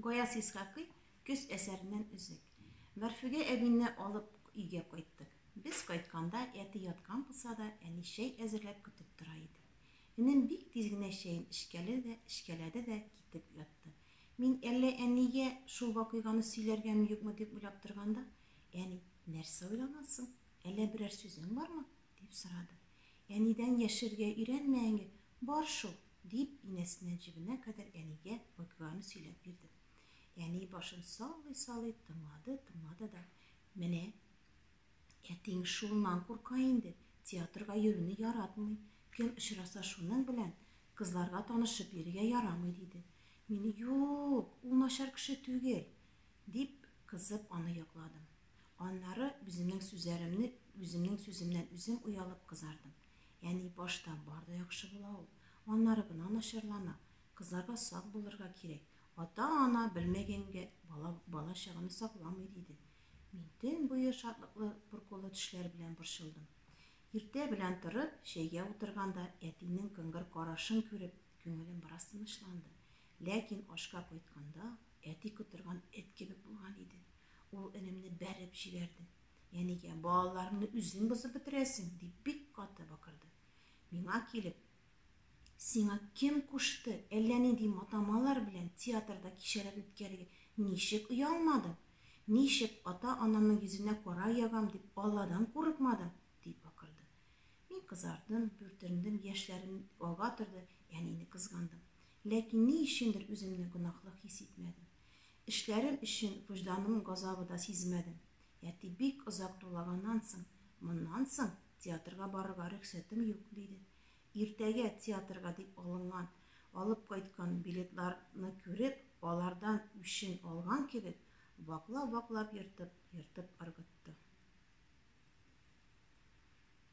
Гаяз Исхакый көз әсәреннән өзек. Мәрфүгә әбине алып өйгә кайттык. Без кайтканда, әти яткан булса да, әни чәй әзерләп көтеп тора иде. Энем бик тиз генә чәен эчкәле дә, эчкәләде дә китеп ятты. Мин әллә әнигә шул вакыйганы сөйләргәме-юкмы дип уйлап торганда, әни, Нәрсә уйланасың? Әллә берәр сүзең бармы? Дип сорады. Әнидән яшерергә өйрәнмә әнге, бар шул! дип, инәсеннән җебенә кадәр әнигә вакыйганы сөйләп бирдем. Әни башын саллый-саллый тыңлады, тыңлады да, Менә, әтиең шуннан курка инде, театрга йөрүне яратмый, кем очраса шуның белән кызларга танышып йөрергә ярамый, диде. Мин, Юк, ул начар кеше түгел! дип, кызып, аны якладым. Аннары үземнең сүзләремне үземнең сүземнән үзем уялып кызардым. Яни башта бар да яхшы була ул, аннары гына начарлана. Кызларга сак булырга кирәк. Ата-ана белмәгәнгә бала бала чаганы сакламый, диде. Мин төн буе шатлыклы пуркулы төшләр белән борчылдым. Иртә белән торып, чәйгә утырганда әтинең кыңгыр карашын күреп, күңелем бераз тынычланды. Ләкин ашка кайтканда, әти котырган эт кебек булган иде. Ул энемне бәреп җибәрде. Янигә, балаларымны үзең бозып бетерәсең, дип бик каты бакырды. Миңа килеп, Сиңа кем кушты, әллә нинди матамалар белән театрда кичәләр үткәрергә? Ничек оялмадың? Ничек ата-анамның йөзенә кара ягам дип, Алладан курыкмадың? дип бакырды. Мин кызардым, бүртендем, яшьләрем ага торды, әнине кызгандым. Ләкин ни өчендер үземне гөнаһлы хис итмәдем. Эшләрем өчен вөҗданым газабы да сизмәдем. Әти бик озак дулаганнан соң, Моннан соң театрга барырга рөхсәтем юк, диде. Иртәгә театрга дип алынган, алып кайткан билетларны күреп, алардан үчен алган кебек, ваклап-ваклап ертып, ертып ыргытты.